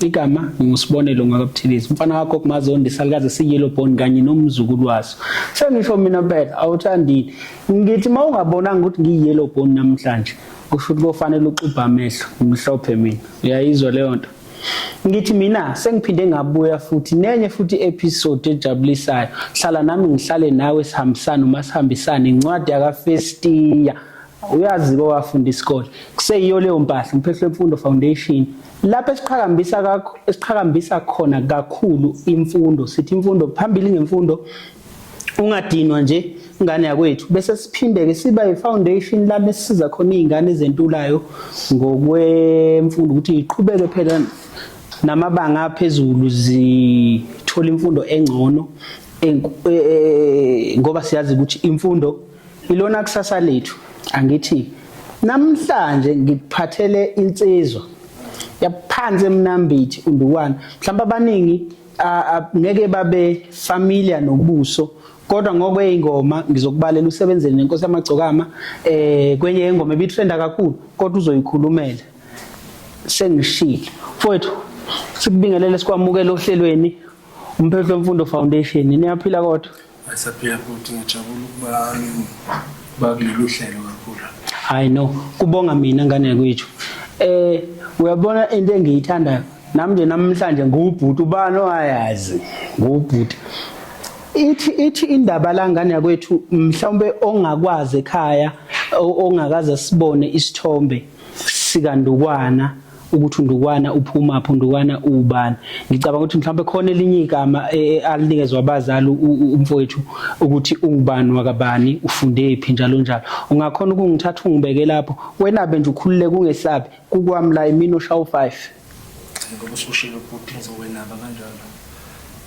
Igama nginguSibonelo Ngakabuthilizi. Umfana wakho kuMazondi salikaze siyellow bone kanye nomzukulu waso. Sengisho mina mpela awuthandile. Ngithi mawungabonanga ukuthi ngiyellow bone namhlanje kusho ukuthi kofanele uxubha amehlo ngimhlophe mina. Uyayizwa leyo nto. Ngithi mina sengiphinde ngabuya futhi nenye futhi episode ejabulisayo. Hlala nami ngihlale nawe sihambisane uma sihambisane incwadi yakafestiya. uyazi ke wafunda isikole kuseyiyo leyo mpahla umphehlo wemfundo foundation lapho esiqhakambisa kakho esiqhakambisa khona kakhulu imfundo sithi imfundo phambili ngemfundo ungadinwa nje ingane yakwethu bese siphindeke siba yifoundation la besisiza khona izingane ezentulayo ngokwemfundo ukuthi iqhubeke phela namabanga aphezulu zithola imfundo engcono e, e, ngoba siyazi ukuthi imfundo Ilona kusasa lethu angithi namhlanje ngikuphathele insizwa yaphansi emnambithi undukwana mhlawumbe abaningi ngeke babe familiar nobuso kodwa ngokweyingoma ngizokubalela usebenzele nenkosi yamagcokama eh kwenye yengoma ebithenda kakhulu kodwa uzoyikhulumela sengishilo mfowethu sikubingelele sikwamukele ohlelweni umphetho wemfundo foundation niyaphila kodwa Ayisaphila futhi ngijabula ukuba bakulolu hlelo kakhulu. Hayi no, kubonga mina ngane kwethu. Eh uyabona into engiyithandayo nami nje namhlanje nguwubhuti ubani owayazi nguwubhuti ithi ithi indaba la ngane yakwethu mhlawumbe ongakwazi ekhaya ongakaze sibone isithombe sikandukwana ukuthi uNdukwana uphumaphi uNdukwana uwubani ngicabanga ukuthi mhlawumbe khona elinye igama e, e, alinikezwa abazali umfowethu ukuthi ungubani wakabani ufundephi njalo njalo ungakhona ukungithatha ungibeke lapho wena be nje ukhulule kungesabi kukwami la imini oshawu 5 ngoba usushilo ubhuti ngizokwenaba kanjalo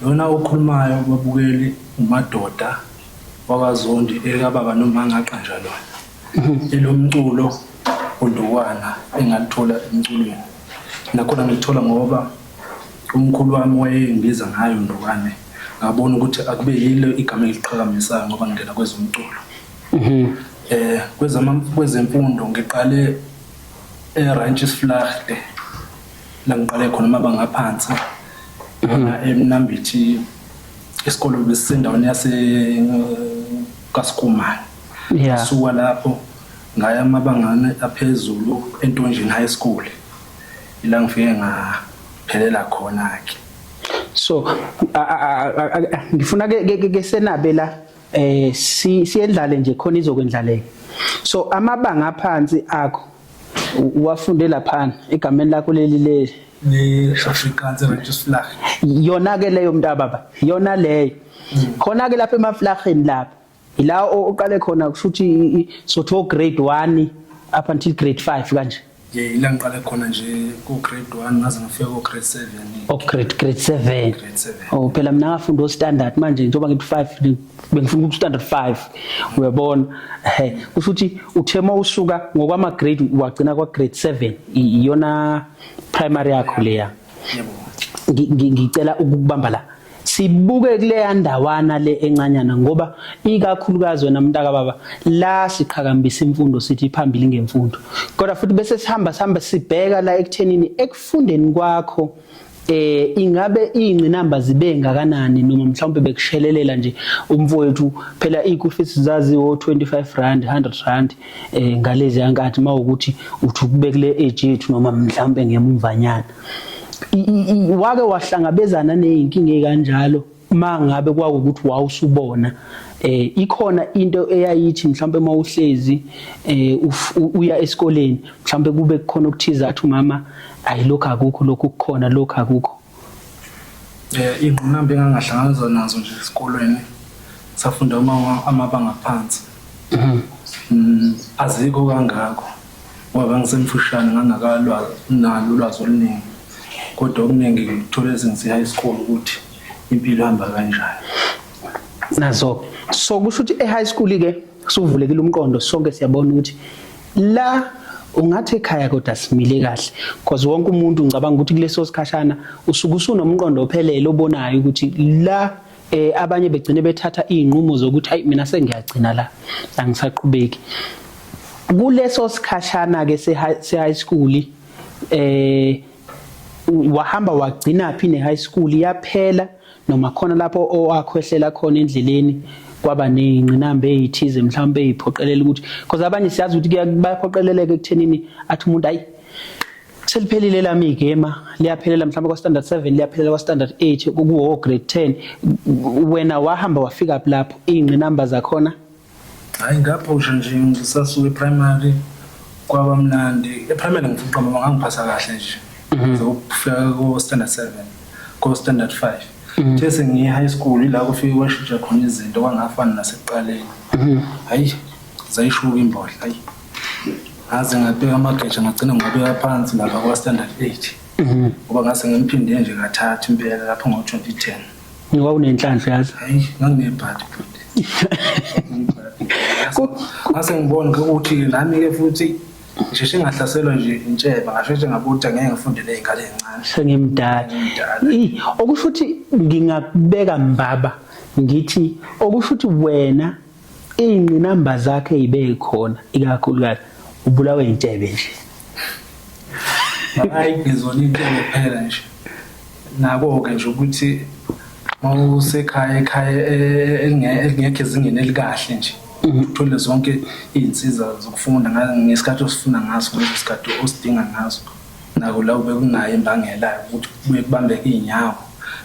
lona okhulumayo babukeli umadoda wakazondi ekababa nomangaqanja lona elomculo undukwana engalithola emculweni nakhona ngilithola ngoba umkhulu wami wayengibiza ngayo ndukwane ngabona ukuthi akube yilo igama eliqhakamisayo ngoba ngingena kwezomculo mhm. eh kwezama kwezemfundo ngiqale eRanches Flagte la ngiqale khona mabanga aphansi mhm. emnambithi isikole besendaweni yase kaSkumane Yeah. Ngasuka lapho ngaya amabangane aphezulu eNtonjini High School. Ila ngifike ngaphelela khona ke. So a- a- a- a- a- ngifuna ke- ke ke- ke senabe la eh si- siyendlale nje khona izokwendlaleka. So amabanga aphansi akho u- uwafunde laphana egameni lakho leli le Le Afrikaanse Registerslag. yona ke leyo mntababa yona leyo khona ke lapha emaflageni lapha ila oqale khona kusho ukuthi sotho grade 1 up until grade 5 kanje yeah ila ngiqale khona nje ku grade 1 ngaze ngafika ku grade 7 oh grade grade 7 grade 7 oh phela mina ngafunda o standard manje njengoba ngithi 5 bengifuna ku standard 5 uyabona hey kusho ukuthi uthema usuka ngokwama grade wagcina kwa grade 7 iyona primary yakho leya yeah. ngicela ukukubamba la sibuke kuleya ndawana le encanyana ngoba ikakhulukazi wena mntaka baba la siqhakambisa imfundo sithi phambili ngemfundo kodwa futhi bese sihamba sihamba sibheka la ekuthenini ekufundeni kwakho eh ingabe ingcinamba zibe ngakanani noma mhlawumbe bekushelelela nje umfowethu phela iku fees zaziwo 25 rand 100 rand eh ngalezi yankathi mawukuthi uthi ukubekule age yethu noma mhlambe ngemumvanyana wake wahlangabezana nezinkinga ekanjalo mangabe kwakukuthi wawusubona eh ikhona into eyayithi mhlambe uma uhlezi eh uya esikoleni mhlambe kube kukhona okuthiza athi umama ayilokho akukho lokho kukhona lokho akukho Eh ingqinamba engangahlangabezana nazo nje esikolweni safunda uma amabanga phansi. Mhm. Mm, azikho kangako ngoba ngisemfushane ngangakalwazi nalo ulwazi oluningi kodwa okuningi ngithole since high school ukuthi impilo ihamba kanjani nazo so kusho ukuthi e-high school-ke Suvulekile umqondo sonke siyabona ukuthi la ungathi ekhaya kodwa simile kahle because wonke umuntu ngicabanga ukuthi kuleso sikhashana usuke usunomqondo ophelele obonayo ukuthi la eh abanye begcine bethatha izinqumo zokuthi hayi mina sengiyagcina la angisaqhubeki kuleso sikhashana ke se high school eh wahamba wagcina phi ne high school yaphela noma khona lapho owakhwehlela khona endleleni kwaba ney'ngqinamba ey'thize mhlawumbe ey'phoqelela ukuthi because abanye siyazi ukuthi bayaphoqeleleka ekuthenini athi umuntu ayi seliphelile lami igema liyaphelela mhlawumbe kwa-standard seven liyaphelela kwa-standard eight kuwo grade ten wena wahamba wafika phi lapho iy'ngqinamba zakhona Hayi ngaphosha nje ngisasuke primary kwaba mnandi. Eprimary ngifuna ukuqamba ngoba ngangiphasa kahle nje. Ngize ukufika ko standard 7, ko standard 5. Kuthe sengiye high school ila kufike kwashintsha khona izinto kwangafani nasekuqaleni. Hayi zayishuka imbodla hayi. Ngaze ngabeka amageja ngagcina ngiwabeka phansi lapha kwa standard 8. Ngoba ngase ngimphinde nje kathathu impela lapho ngo 2010. Ngoba unenhlanhla yazi. Hayi, nganginebhadi futhi. Ngase ngibone ukuthi nami ke futhi ngisheshe ngahlaselwa nje intsheba ngasheshe ngabuthi angeke ngifunde nezingane ezincane. Sengimdala. Ih, okusho ukuthi ngingakubeka mbaba ngithi okusho ukuthi wena iy'ngqinamba zakhe yibe khona ikakhulukazi ubulawe intshebe nje hayi ngizona intshebe kuphela nje nako-ke nje ukuthi mawusekhaya ekhaya e, e, e, elingekho ezingeni elikahle nje mm-hmm. uthole zonke iy'nsiza zokufunda ngesikhathi osifuna ngaso ngaleso sikhathi osidinga ngaso nako la ube kunayo imbangela ukuthi kubuye kubambeke iy'nyawo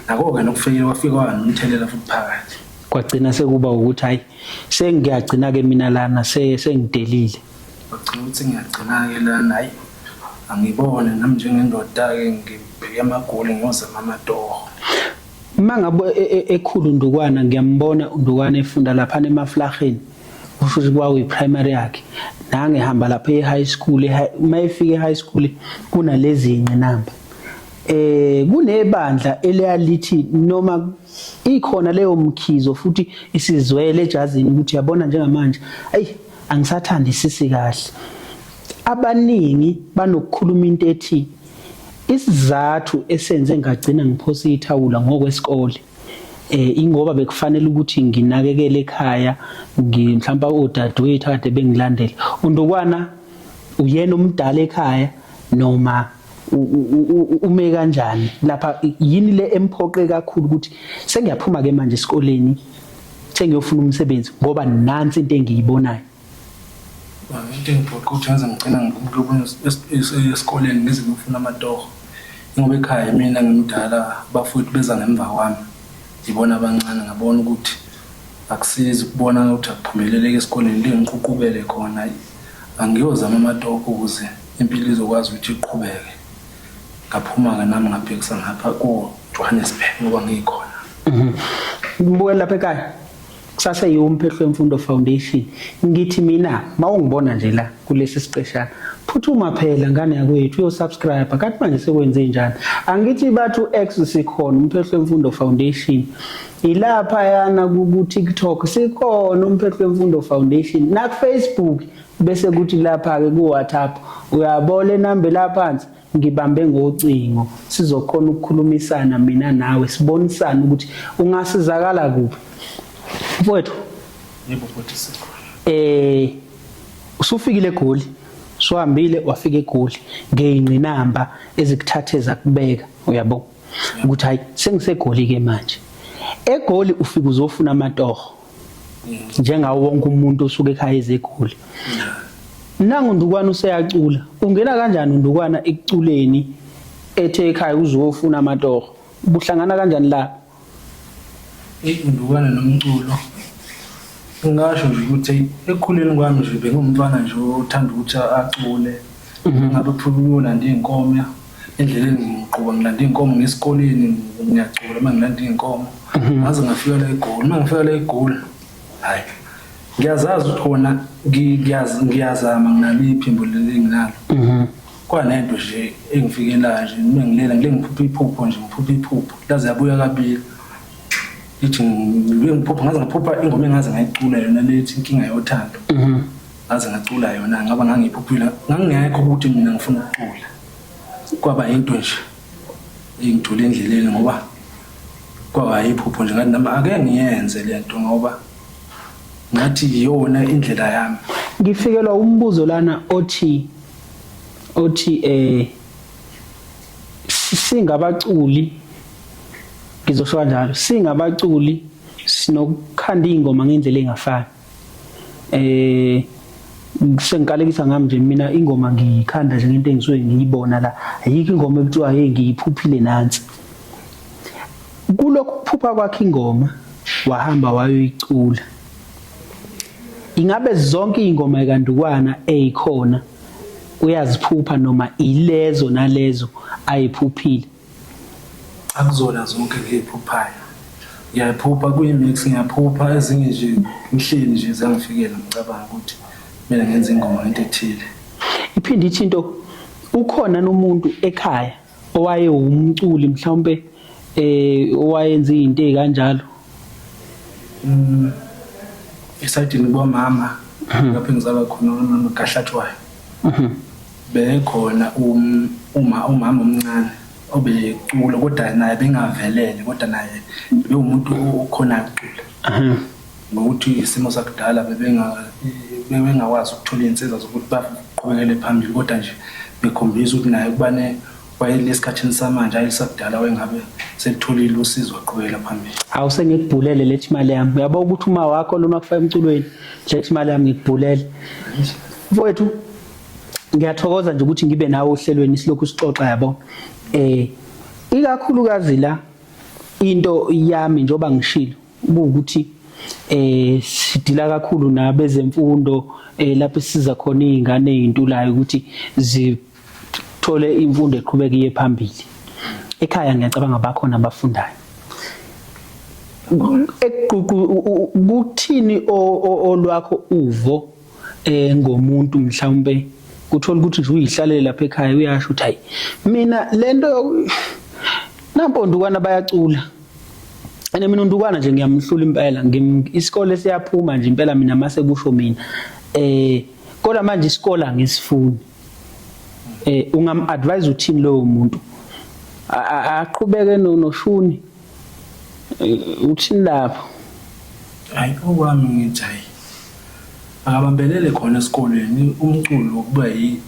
nako-ke nokufike kwafika kwanomthelela futhi phakathi kwagcina sekuba ukuthi hayi sengiyagcina ke mina lana sengidelile wagcina ukuthi ngiyagcina ke lana hayi angibone nami njengendoda ke ngibheke amagoli ngiyoze mamatoho uma ngabe e, e, ekhulu undukwana ngiyambona undukwana efunda lapha emaflaheni kusho ukuthi kwakuyi primary yakhe nange hamba lapha e-high school uma efika e-high school kunalezi nqinamba eh kunebandla eliyalithi noma Ikhona leyo mkhizo futhi isizwele ejazini ukuthi yabona njengamanje ayi angisathandi sisi kahle. Abaningi banokukhuluma into ethi isizathu esenze ngagcina ngiphosa ithawula ngokwesikole eh ingoba bekufanele ukuthi nginakekele ekhaya ngimhlawumbe odadewethu akade bengilandela undukwana uyena umdala ekhaya noma ume kanjani lapha yini le emphoqe kakhulu ukuthi sengiyaphuma ke manje esikoleni sengiyofuna umsebenzi ngoba nansi into engiyibonayo into engiphoqa ukuthi ngaze ngigcina ngikubona esikoleni ngize ngifuna amatoho ngoba ekhaya mina ngimdala bafowethu beza ngemva kwami ngibona abancane ngabona ukuthi akusizi ukubona ukuthi akuphumeleleke esikoleni le ngiququkele khona angiyozama amatoho ukuze Impilo izokwazi ukuthi iqhubeke. Ngaphuma-ke nami ngabhekisa ngapha ko-Johannesburg ngoba ngikhona. Ngibukela lapha ekhaya. Kusasa yiwo umphehlo wemfundo foundation. Ngithi mina mawungibona nje la kulesi siqeshana. Phuthuma phela ngane yakwethu uyosubscribe. Kanti manje sekwenze njani? Angithi bathu X sikhona umphehlo wemfundo foundation. Ilapha yana ku TikTok sikhona umphehlo wemfundo foundation. Na Facebook bese kuthi lapha-ke ku-whatsapp uyabo le namba elaphansi ngibambe ngocingo sizokhona ukukhulumisana mina nawe sibonisane ukuthi ungasizakala kuphi mfowethu yebo futhi sikhona eh usufikile egoli swahambile wafika egoli ngeyingqinamba ezikuthathe zakubeka uyabo ukuthi hayi sengisegoli ke manje egoli ufika uzofuna amatoho njengawo wonke umuntu osuke ekhaya ezegoli nangu ndukwana useyacula ungena kanjani undukwana ekuculeni ethe ekhaya uzofuna amatoho buhlangana kanjani la indukwana nomculo ngingasho nje ukuthi ekukhuleni kwami nje bengumntwana nje othanda ukuthi acule mhm. ngabe phululula nje inkomya endleleni ngiqhuba ngilanda iy'nkomo ngesikoleni ngiyacula uma ngilanda iy'nkomo mhm. ngaze ngafika la egoli uma ngifika la egoli hhayi ngiyazazi ukuthi kona ngiyazama nginalo iphimbo leli enginalo mhm. kwanento nje engifikelayo nje uma ngilela ngile ngiphupha iphupho nje ngiphupha iphupho laze yabuya kabili ithi ngiphupha ngaze ngaphupha ingoma engaze ngayicula yona lethi inkinga yothando mhm. ngaze ngacula yona ngaba ngangiphuphula ngangingekho ukuthi mina ngifuna ukucula kwaba into nje engithole endleleni ngoba kwaba yiphupho nje ngathi nami ake ngiyenze le nto ngoba ngathi iyona indlela yami ngifikelwa umbuzo lana othi othi eh singabaculi ngizosho kanjalo singabaculi sinokukhanda ingoma ngendlela engafani eh sengikalekisa ngami nje mina ingoma ngiyikhanda nje ngento engisuke ngiyibona la ayikho ingoma ekuthiwa hey ngiyiphuphile nansi kulokhu kuphupha kwakhe ingoma wahamba wayoyicula ingabe zonke ingoma ekandukwana eyikhona uyaziphupha noma ilezo nalezo ayiphuphile Akuzona zonke ngiyiphuphayo. Ngiyayiphupha kuyi-mix, ngiyaphupha ezinye nje ngihleli nje ziyangifikela ngicabanga ukuthi kumele ngenze ingoma ngento ethile. Iphinde ithi into ukhona nomuntu ekhaya owayewumculi mhlawumbe eh owayenza izinto ezikanjalo Mm, esayidini kwamama mhm. lapho engizalwa khona umama kahlathwayo mhm. bekhona um, uma umama omncane obecula kodwa naye bengavelele kodwa naye bewumuntu okhona acula mhm. ngokuthi isimo sakudala bebengakwazi ukuthola iy'nsiza zokuthi baqhubekele phambili kodwa nje bekhombisa ukuthi naye kubane Kwayile esikhathini samanje ayi sakudala wengabe sekutholile usizo aqhubekela phambili. Awu sengikubhulele lethi imali yami. Uyabona ukuthi uma wakho lona kufaka emculweni lethi imali yami ngikubhulele. Mfowethu ngiyathokoza nje ukuthi ngibe nawe ohlelweni silokhu sixoxa yabo. Eh ikakhulukazi la into yami njoba ngishilo ukuthi eh sidila kakhulu nabezemfundo eh lapho siza khona izingane ezintulayo ukuthi zi thole imfundo eqhubeka iye phambili ekhaya ngiyacabanga bakhona abafundayo ekuququ kuthini olwakho uvo eh ngomuntu mhlawumbe uthola ukuthi nje uyihlalele lapha ekhaya uyasho ukuthi hayi mina lento nampondukwana bayacula ene mina undukwana nje ngiyamhlula impela isikole siyaphuma nje impela mina mase kusho mina eh kodwa manje isikole angisifuni eh ungam advise uthini lowo muntu aqhubeke noshuni eh, uthini lapho hayi okwami ngithi hayi akabambelele khona esikolweni umculo kuba yi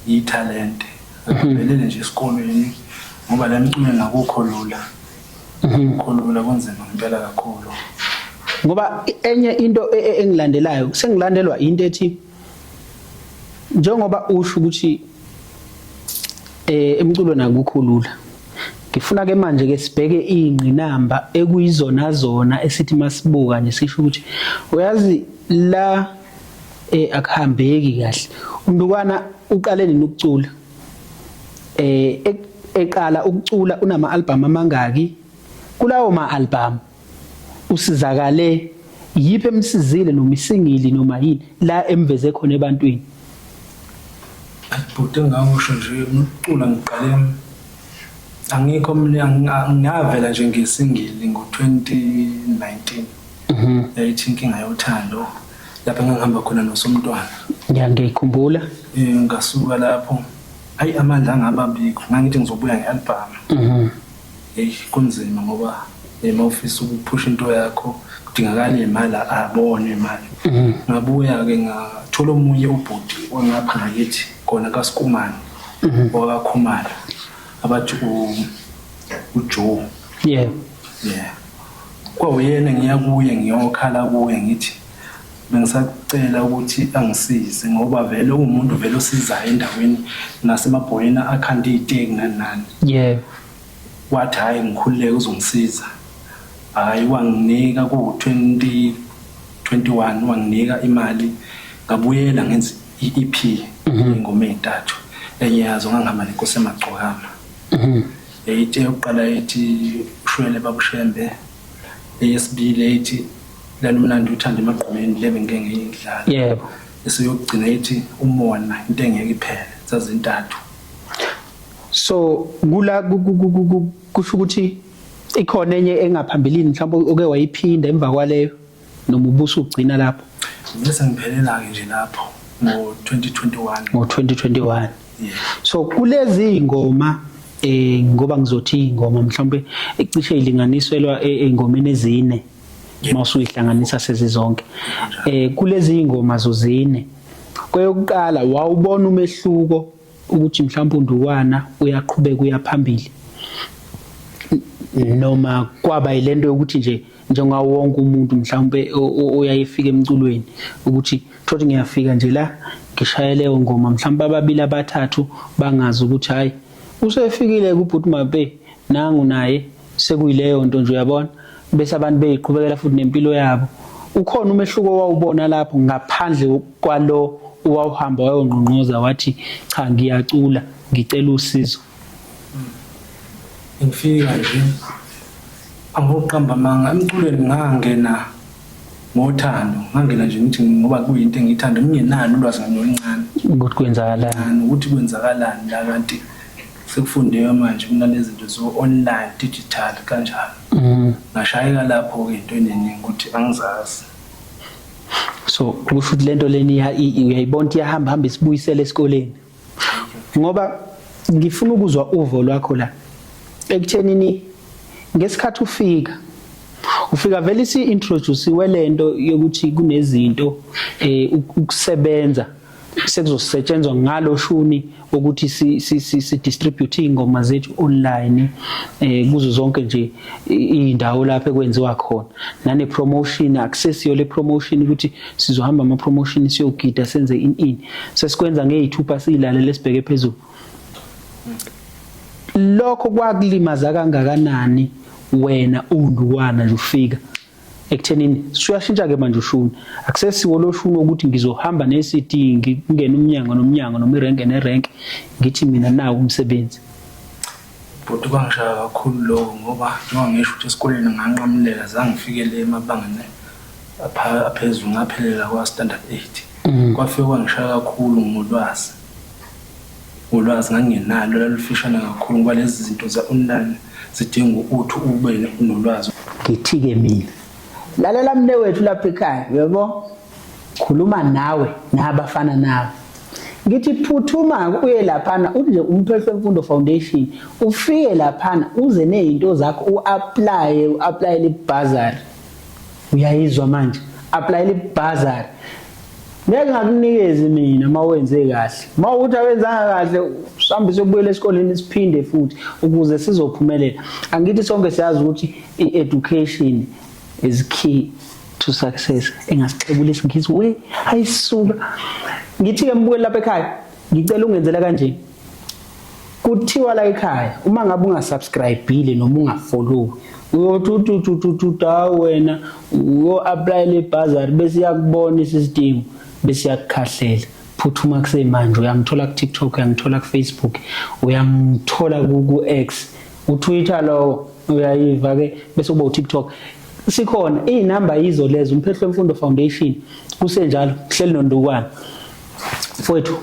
yithalente akabambelele nje esikolweni ngoba la mculo nakukho lula mhm. kukho lula kunzima ngempela kakhulu ngoba enye into e, e, engilandelayo sengilandelwa into ethi njengoba usho ukuthi eh emculweni akukho lula ngifuna ke manje ke sibheke ingqinamba ekuyizona zona esithi masibuka nje sisho ukuthi uyazi la eh akuhambeki kahle umntwana uqale nini ukucula eh e-, eqala ukucula unama album amangaki kulawo ma album usizakale yiphi emsizile noma isingili noma yini la emveze khona ebantwini bhuti engangisho nje ukucula ngiqale angikho ngavela nje ngesingili ngo-2019 mhm. yayithi inkinga yothando lapho engangihamba khona nosomntwana ngiyangiyikhumbula um ngasuka lapho ayi amandla angaba bikho ngangithi ngizobuya nge-albhamu mhm. Eish kunzima ngoba uma ufisa ukuphusha into yakho kudingakala imali abone imali mhm. ngabuya ke ngathola omunye ubhuti wangapha ngakithi khona kasikumane mhm. wakakhumala abathi ujoe yeah yeah kwawuyena ngiya kuye ngiyokhala kuye ngithi bengisacela ukuthi angisize ngoba vele uwumuntu vele osizayo endaweni nasemabhoyeni akhanda iy'teki nani nani yebo wathi hhayi ngikhululeke uzongisiza hhayi wanginika kuwu-twenty twenty-one wanginika imali ngabuyela ngenza i-ep mhm. ingoma ey'ntathu enye yazo ngangihamba nenkosi emagcokama mhm. yayithe yokuqala ethi ushwele babushembe eyesibili ethi lalumnandi uthanda emagqumeni le bengike ngiyidlala yebo esiyokugcina ethi umona into engeke iphele zazintathu so kula kusho ukuthi ikhona enye engaphambilini mhlawumbe oke wayiphinda emva kwaleyo noma ubuso ugcina lapho bese ngiphelela ke nje lapho ngo 2021 ngo 2021 so kulezi ngoma eh ngoba ngizothi ingoma mhlawumbe icishe ilinganiselwa e, engomeni ezine mawusuyihlanganisa sezizonke eh kulezi ingoma zozine kweyokuqala wawubona umehluko ukuthi mhlawumbe undukwana uyaqhubeka uyaphambili noma kwaba yilento yokuthi nje njengoba wonke umuntu mhlawumbe oyayefika emculweni ukuthi thothi ngiyafika nje la ngishayele leyo ngoma mhlawumbe ababili abathathu bangazi ukuthi hayi usefikile kubhuti mabe nangu naye sekuyileyo nto nje uyabona bese abantu beyiqhubekela futhi nempilo yabo ukhona umehluko owawubona lapho ngaphandle kwalo owawuhamba wayongqongqoza wathi cha ngiyacula ngicela usizo ngifika nje angoqamba manga emculweni ngangena ngothando ngangena nje ngithi ngoba kuyinto engiyithanda ngingenalo ulwazi ngincane ukuthi kwenzakalani ukuthi kwenzakalani la kanti Sekufundiwe manje kunalezinto zo online digital kanjalo. Mhm. Ngashayeka lapho ke into eningi ukuthi angizazi. So kusho ukuthi lento leni uyayibona ukuthi iyahamba hamba isibuyisele esikoleni. Ngoba ngifuna ukuzwa uvo lwakho la. Ekuthenini ngesikhathi ufika ufika vele si introduce welento yokuthi kunezinto eh ukusebenza sekuzosetshenzwa ngalo shuni ukuthi si, si, si, si distribute ingoma zethu online eh kuzo zonke nje indawo lapho ekwenziwa khona nane promotion access yo le promotion ukuthi sizohamba ama promotion siyogida senze in in sesikwenza ngeyithupa silale lesibheke phezulu lokho kwakulimaza kangakanani wena unduwana nje ufika ekuthenini suyashintsha-ke manje ushuni akusesiwo lo shuni wokuthi ngizohamba ne-cd ngingena umnyango nomnyango noma irenke nerenke ngithi mina nawo umsebenzi bhuti kwangishaya kakhulu lowo ngoba njengoba ngisho ukuthi esikoleni nganqamulela zangifikele emabangeni aphezulu ngaphelela kwa-standard eight mm. kwafike kwangishaya kakhulu ngolwazi Ulwazi ngangingenalo lalufishane kakhulu ngoba lezi zinto za-online zidinga ukuthi ube nolwazi. Ngithi-ke mina, lalela mnewethu lapha ekhaya, uyabo, khuluma nawe nabafana nawe. Ngithi phuthuma uye laphana uthi nje uMphehlo Mfundo Foundation ufike laphana uze nezinto zakho uapply uapplyele ibhazari. uyayizwa manje applyela ibhazari ngeke ngakunikezi mina uma wenze kahle uma ukuthi awenzanga kahle sihambe sobuyela esikoleni siphinde futhi ukuze sizophumelela angithi sonke siyazi ukuthi i-education is key to success engasixebula isingisi we ayisuka ngithi ke mbukeli lapha ekhaya ngicela ungenzela kanje kuthiwa la ekhaya uma ngabe ungasubscribile noma ungafollowi uyothi utututututa wena uyo-aplayela ibhazari bese iyakubona isisidingo bese iyakukhahlela phuthuma kusemanje uyangithola ku-tiktok uyangithola ku-facebook uyangithola ku-x utwitter lowo uyayiva-ke bese uba u-tiktok sikhona iy'namba yizo lezo umphehlo wemfundo foundation kusenjalo kuhleli nondukwana mfowethu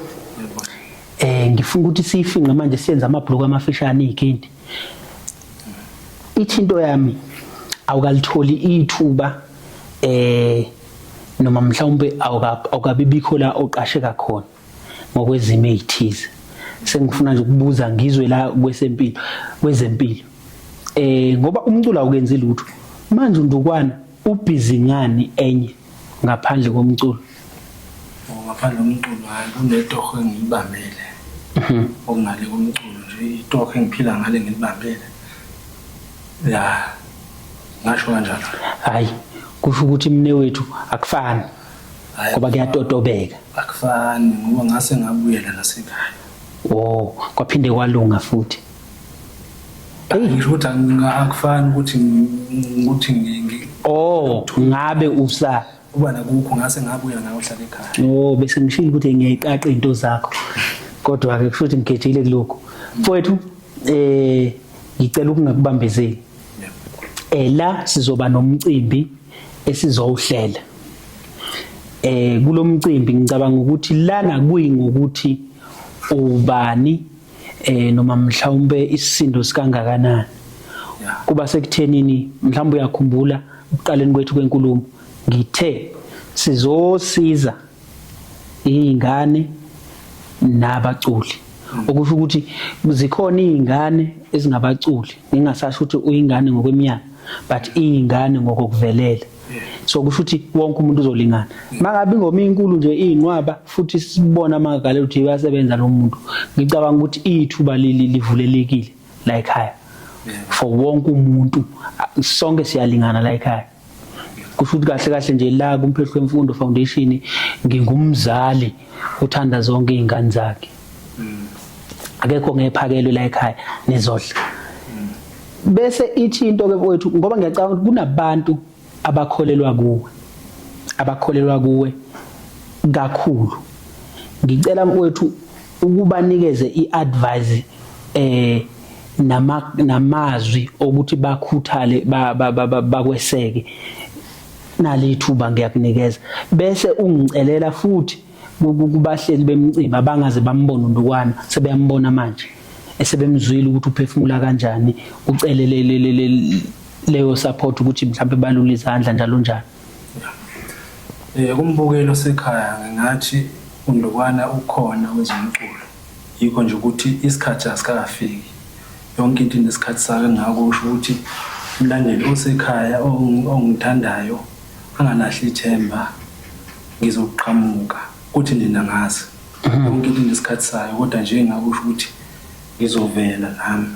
Eh ngifuna ukuthi siyifinqe manje siyenze amabhuluku amafishane ikhindi. Ithi into yami awukalitholi ithuba eh noma mhlawumbe awukabibikho la oqasheka khona ngokwezimo ezithize. Sengifuna nje ukubuza ngizwe la kwesempilo kwezempilo. Eh ngoba umculo awukenzi lutho. Manje undukwana Ubhizi ngani enye ngaphandle komculo? Oh, ngaphandle komculo hayi kunetoho engiyibambele. Mhm. Okungale komculo nje itoho engiphila ngale ngilibambele. Ya. Ngasho kanjalo. Hayi, kusho ukuthi mne wethu akufani. Ngoba kuyatotobeka. Akufani ngoba ngase ngabuyela nasekhaya. Oh, kwaphinde kwalunga futhi. Eyi ngisho ukuthi anginga- akufani ukuthi ngi- ukuthi ngi- ngi- oh ngabe usa uba nakukho ngase ngabuya nawe uhlale ekhaya oh bese ngishilo ukuthi ngiyayiqaqa izinto zakho kodwa ke kusho ukuthi ngigejile kuloko mfowethu eh ngicela ukungakubambezeli eh la sizoba nomcimbi esizowuhlela eh kulomcimbi ngicabanga ukuthi lana kuyi ngokuthi ubani eh noma mhlawumbe isisindo sikangakanani kuba sekuthenini mhlawumbe uyakhumbula ukuqaleni kwethu kwenkulumo ngithe sizosiza izingane nabaculi okusho ukuthi zikhona izingane ezingabaculi ngingasasho ukuthi uyingane ngokweminyaka but izingane ngokokuvelela so kusho ukuthi wonke umuntu uzolingana mangabe ingoma inkulu nje inqwaba futhi sibona amagale ukuthi uyasebenza lo muntu ngicabanga ukuthi ithuba leli livulelekile la ekhaya for wonke umuntu sonke siyalingana la ekhaya kusho ukuthi kahle kahle nje la kumphehlwe imfundo foundation ngingumzali uthanda zonke izingane zakhe akekho ngephakelwe la ekhaya nizodla bese ithi into ke wethu ngoba ngiyacabanga ukuthi kunabantu abakholelwa kuwe abakholelwa kuwe kakhulu ngicela mfowethu ukubanikeze iadvice eh nama namazwi okuthi bakhuthale bakweseke nalithuba ngiyakunikeza bese ungicelela futhi kubahleli bemcimbi abangaze bambona uNdukwana sebeyambona manje esebemzwile ukuthi uphefumula kanjani ucelele leyo support ukuthi mhlawumbe balule izandla njalo njalo eh kumbukelo sekhaya ngingathi uNdukwana ukhona wezomculo yikho nje ukuthi isikhathi asikafiki yonke into inesikhathi sayo ngakho usho ukuthi umlandeli osekhaya ongithandayo Angalahli ithemba ngizoqhamuka kuthi nina ngazi yonke into inesikhathi sayo kodwa nje engakusho ukuthi ngizovela nami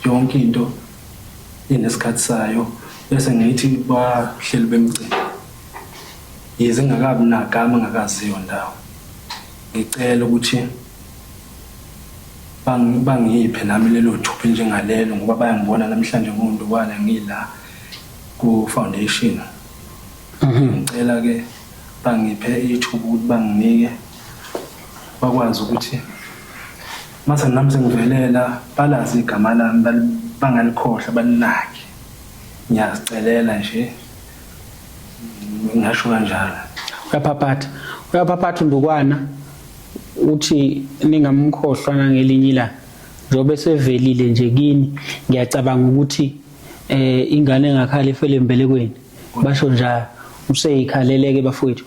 yonke into inesikhathi sayo bese ngithi bahleli bemcimbi yize ngakabi nagama ngakaziyo ndawo ngicela ukuthi bangi- bangiphe nami lelo thupha njengalelo ngoba bayangibona namhlanje ngondukwala ngila ku foundation ngicela ke bangiphe ithuba ukuthi banginike bakwazi ukuthi mase nami sengivelela balazi igama lami bangalikhohlwa balinaki ngiyazicelela nje ngasho kanjalo uyaphaphatha uyaphaphatha uNdukwana uthi ningamkhohlwa nangelinye ilanga njengoba sevelile nje kini ngiyacabanga ukuthi eh ingane engakhala ifele embelekweni basho njalo useyikhaleleke bafowethu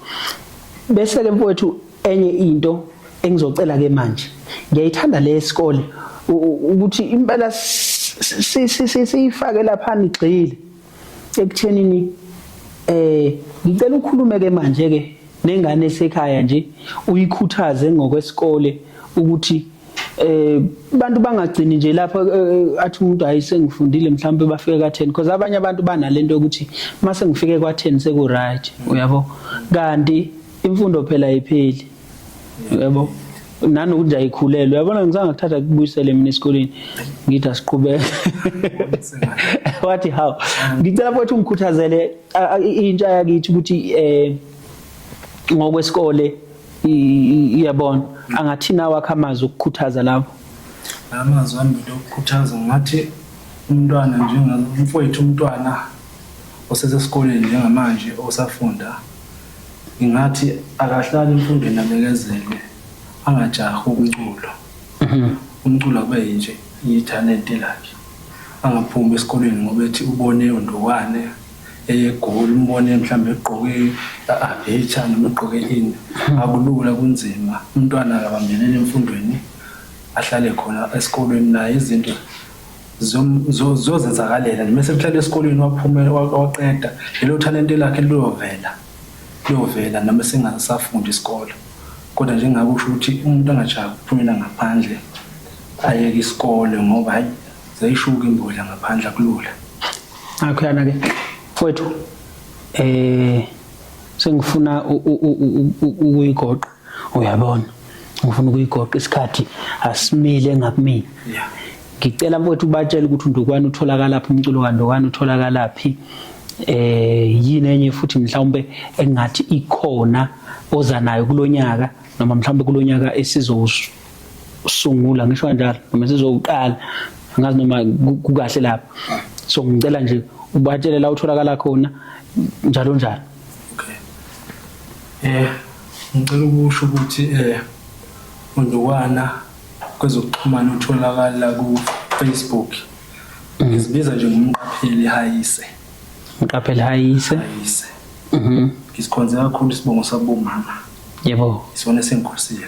bese ke mfowethu enye into engizocela ke manje ngiyayithanda le sikole ukuthi impela siyifake lapha nigxile ekuthenini eh ngicela ukhulume ke manje ke nengane esekhaya nje uyikhuthaze ngokwesikole ukuthi eh abantu bangagcini nje lapho eh, eh, athi umuntu hayi sengifundile mhlawumbe bafike ka 10 because abanye abantu banalento yokuthi mase ngifike kwa 10 seku right uyabo kanti imfundo phela ayipheli uyabo nanokuthi ayikhulelwe uyabona ngizange kuthatha kubuyisele mina esikoleni ngithi asiqhubeke wathi how ngicela futhi ungikhuthazele intsha yakithi ukuthi eh ngokwesikole iyabona angathini awakho amazwi okukhuthaza lawo amazwi ami okukhuthaza ngathi umntwana njengomfowethu umntwana osesesikoleni njengamanje osafunda ngingathi akahlali emfundweni abekezelwe angajahi umculo mhm. umculo kube yinje ithalente lakhe angaphumi esikoleni ngoba ethi ubone undokwane eyegoli umbone mhlawumbe egqoke abecha noma egqoke ini akulula kunzima umntwana akabambelele emfundweni ahlale khona esikolweni naye izinto zozenzakalela noma sekuhlala esikolweni waphume waqeda lelo talente lakhe liyovela liyovela noma singasafundi isikole kodwa njengabe usho ukuthi umuntu angajahi ukuphumela ngaphandle ayeke isikole ngoba hayi zayishuka imbodla ngaphandle akulula Akhuyana ke mfowethu eh sengifuna ukuyigoqa uyabona ngifuna ukuyigoqa isikhathi asimile ngakumina yeah ngicela mfowethu ubatshele ukuthi undukwane utholakala phi umculo kandukwane utholakala phi eh yini enye futhi mhlawumbe engathi ikhona oza nayo kulonyaka noma mhlawumbe kulonyaka esizosho sungula ngisho kanjalo noma sizoqala angazi noma kukahle lapho so ngicela nje ubatshele la utholakala khona njalo njalo okay eh ngicela ukusho ukuthi eh undukwana kwezokuxhumana utholakala ku Facebook mhm. ngizibiza nje ngomqapheli hayise mqapheli hayise hayise mhm ngisikhonze kakhulu isibongo sabomama yebo isona sengikhosile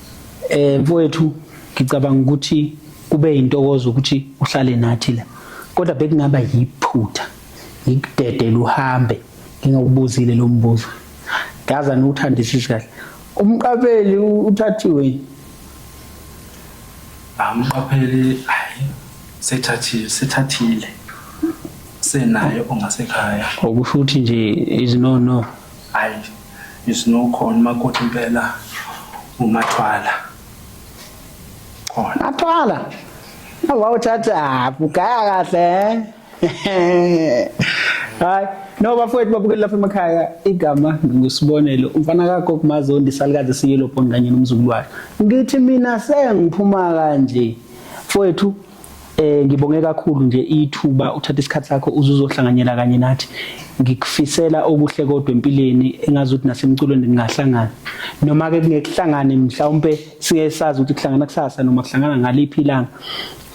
Eh mfowethu ngicabanga ukuthi kube intokozo ukuthi uhlale nathi la. Kodwa bekungaba yiphutha ngikudedele uhambe ngingakubuzile lo mbuzo. Ngaza niwuthandisisi kahle. Umqabeli uthathiwe. Amqapheli hayi sethathile sethathile. Senayo ongasekhaya. Okusho ukuthi nje izinono Hayi You know khona umakoti impela umathwala. Khona. Athwala. Awawuthatha haphi ugaya kahle. Eh? Hayi. No bafowethu babukeli lapha emakhaya igama ngusibonelo umfana kakho kumazi ondisalukazi siyelo phone kanye nomzukulu wakhe. Ngithi mina sengiphuma kanje. Mfowethu Eh ngibonge kakhulu nje ithuba uthatha isikhathi sakho uzuzohlanganyela kanye nathi. Ngikufisela okuhle kodwa empilweni engazi ukuthi nasemculweni ningahlangana. Noma ke kungekuhlangane mhlawumbe siye sazi ukuthi kuhlangana kusasa noma kuhlangana ngaliphi ilanga.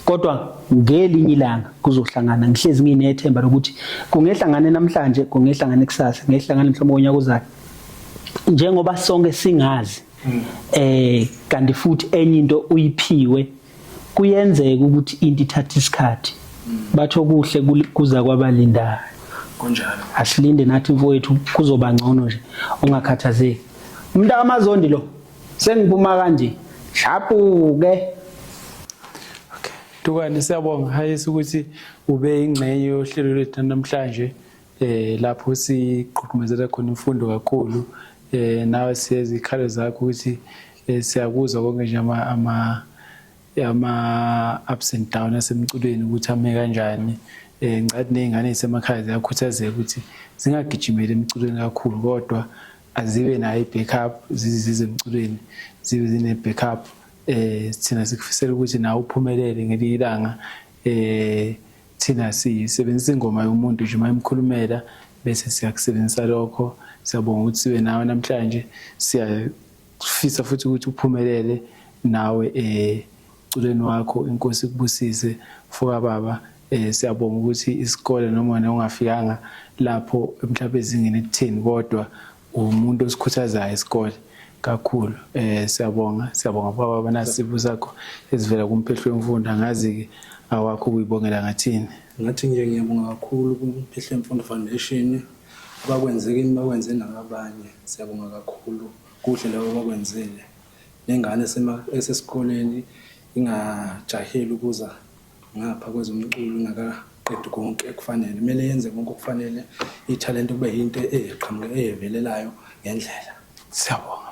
Kodwa ngelinye ilanga kuzohlangana ngihlezi nginethemba lokuthi kungehlangane namhlanje kungehlangane kusasa ngehlangane mhlawumbe ngonyaka ozayo. Njengoba sonke singazi mm. eh kanti futhi enye into uyiphiwe kuyenzeka ukuthi into ithatha isikhathi batho kuhle kuza kwabalindayo kunjalo asilinde nathi mfowethu kuzoba ngcono nje ungakhathazeki umuntu akamazondi lo sengiphuma kanje shapuke Dukane siyabonga hayisi ukuthi ube ingxenye yohlelo lwethu namhlanje eh lapho siqhuqhumezela khona imfundo kakhulu eh nawe siyezikhalo zakho ukuthi eh, siyakuzwa konke nje ama ama ama ups and down asemculweni ukuthi ame kanjani eh ngicathi nezingane zisemakhaya ziyakhuthazeka ukuthi zingagijimeli emculweni kakhulu kodwa azibe nayo i-backup zizize emculweni zibe zine-backup eh thina sikufisela ukuthi nawe uphumelele ngelinye ilanga eh thina sisebenzisa ingoma yomuntu nje uma imkhulumela bese siyakusebenzisa lokho siyabonga ukuthi sibe nawe namhlanje siyafisa futhi ukuthi uphumelele nawe eh culeni wakho inkosi kubusise foka baba eh siyabonga ukuthi isikole noma wena ungafikanga lapho mhlawumbe ezingeni ekutheni kodwa umuntu osikhuthazayo isikole kakhulu eh siyabonga siyabonga baba abanasibu sakho ezivela kumphehlo wemfundo angazi ke awakho kuyibongela ngathini ngathi nje ngiyabonga kakhulu kumphehlo wemfundo foundation abakwenze kimi bakwenze nabanye siyabonga kakhulu kuhle labo bakwenzile nengane esesikoleni ingajaheli ukuza ngapha kwezomculo ingakaqedi konke ekufanele kumele yenze konke okufanele ithalente kube yinto eqhamuke eyevelelayo ngendlela siyabonga